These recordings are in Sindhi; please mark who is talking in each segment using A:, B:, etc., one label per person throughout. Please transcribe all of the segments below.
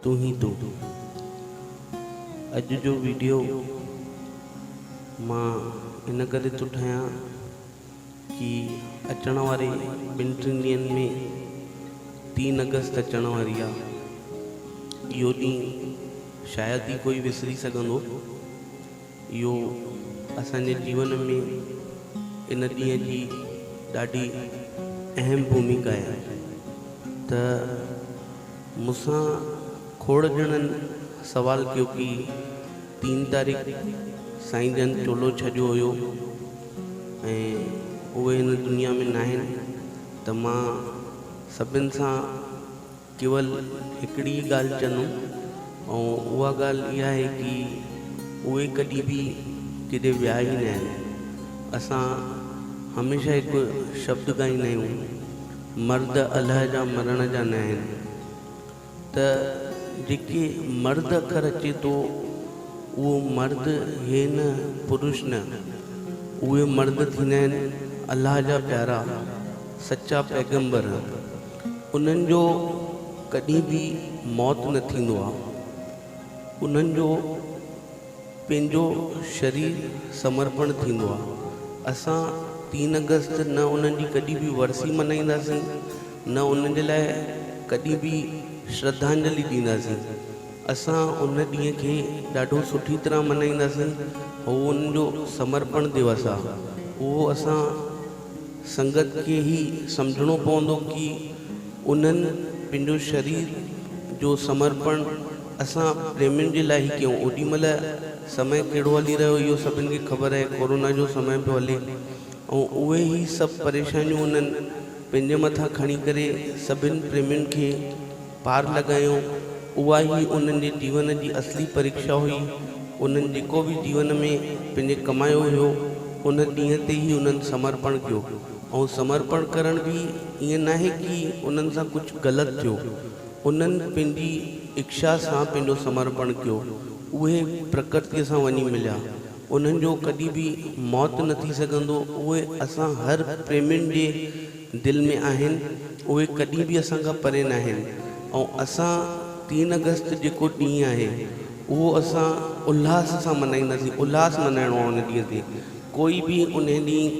A: تون هي تون اڄ جو ويڊيو مان ان ڪري ٿو ٺاهيان ڪي اچڻ واري ٻن ٽن ڏينهن ۾ تين اگست اچڻ واري آ اهو ڏينهن شايد ئي ڪوئي وسري سگهندو اهو اسان جي جيون ۾ ان ڏينهن جي ڏاڍي اهم ڀوميڪا آهي ته مون سان کوڙ ڄڻن سوال ڪيو ڪي تين تاريخ سائين جن چولو ڇڏيو هيو ۽ اهي هن دنيا ۾ ناهن ته مان سڀن سان ڪيول هڪڙي ئي ڳالهه چندم ۽ اها ڳالهه اها آهي ڪي اهي ڪڏهن به ڪيڏي ويا ئي ناهن. اسان هميشه هڪ شبد ڳائيندا آهيون، مرد الهه جا مرڻ جا ناهن. ته جيڪي مرد اکر اچي ٿو اهو مرد هي نه پروش نه. اهي مرد ٿيندا آهن الهه جا پيارا، سچا پيغمبر. انهن جو ڪڏهن به موت نه ٿيندو آهي. انهن جو پنهنجو شرير سمرپڻ ٿيندو آهي. اسان تين آگسٽ نه انهن جي ڪڏهن به ورسي ملهائينداسين نه انهن جي لاء ڪڏهن به شرڌانجلي ڏينداسين. اسان ان ڏينهن کي ڏاڍو سٺي طرح ملهائينداسين. اهو انهن جو سمرپڻ ديوس آهي. اهو اسان. سنگت کي هي سمجهڻو پوندو ڪي انهن پنهنجو شرير جو سمرپڻ اسان پريمين جي لاء هي ڪيون اوڏي مهل سمي ڪهڙو هلي رهيو اهو سڀن کي خبر آهي ڪورونا جو سمي پيو هلي ۽ اهي هي سڀ پريشانيون انهن پنهنجي مٿان کڻي ڪري سڀن پريمين کي پار لڳايو. اها ئي انهن جي جيون جي اصلي پريڪشا هئي. انهن جيڪو به جيون ۾ پنهنجي ڪمايو هيو، ان ڏينهن تي ئي انهن سمرپڻ ڪيو. ۽ سمرپڻ ڪرڻ به ائين ناهي ڪي انهن سان ڪجهه غلط ٿيو. انهن پنهنجي اڪشا سان پنهنجو سمرپڻ ڪيو. اهي پرڪرتيء سان وڃي مليا. انهن جو ڪڏهن به موت نه ٿي سگهندو. اهو اسان هر پريمين جي دل ۾ آهن اهي ڪڏهن به اسان کان پري ناهن ۽ اسان تين اگست جيڪو ڏينهن آهي اهو اسان الهاس سان منائينداسين الهاس منائڻو آهي ان ڏينهن تي ڪوئي به ان ڏينهن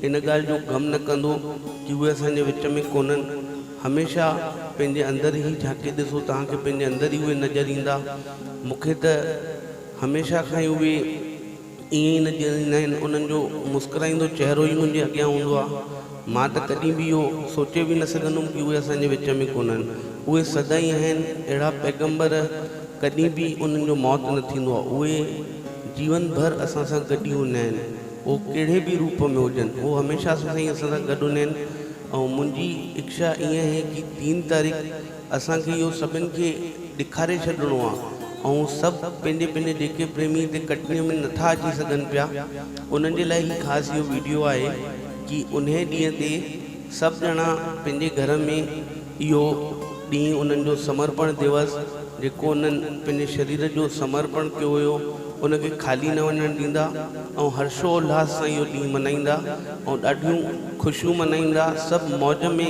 A: ان ڳالهه جو غم نه ڪندو ڪي اهي اسان جي وچ ۾ ڪونهن هميشه پنهنجي اندر هي جهاڪي ڏسو توهان کي پنهنجي اندر ئي اهي نظر ايندا مونکي ته هميشه کان ئي اهي ائين ئي نه جيئريندا آهن، انهن جو مسڪرائيندو چهرو ئي منهنجي اڳيان هوندو آهي. مان ته ڪڏهن به اهو سوچي به نه سگهندم ڪي اهي اسان جي وچ ۾ ڪونهن. اهي سدائين آهن. اهڙا پيغمبر ڪڏهن به انهن جو موت نه ٿيندو آهي. اهي جيون ڀر اسان سان گڏ ئي هوندا آهن. اهو ڪهڙي به روپ ۾ هجن. اهو هميشه اسان سان ئي اسان سان گڏ هوندا آهن ۽ منهنجي اڪشا ائين آهي ڪي تين تاريخ اسان کي اهو سڀن کي ڏيکاري ڇڏڻو آ ۽ سڀ پنهنجي پنهنجي جيڪي پريمي هتي ڪٽني ۾ نٿا اچي سگهن پيا انهن جي لاء هي خاص اهو ويڊيو آهي ڪي انهي ڏينهن تي سڀ ڄڻا پنهنجي گهر ۾ اهو ڏينهن انهن جو سمرپڻ ديوس جيڪو انهن پنهنجي شرير جو سمرپڻ ڪيو هيو ان کي خالي نه وڃڻ ڏيندا ۽ هرشو الهاس سان اهو ڏينهن منائيندا ۽ ڏاڍيون خوشيون منائيندا سڀ موج ۾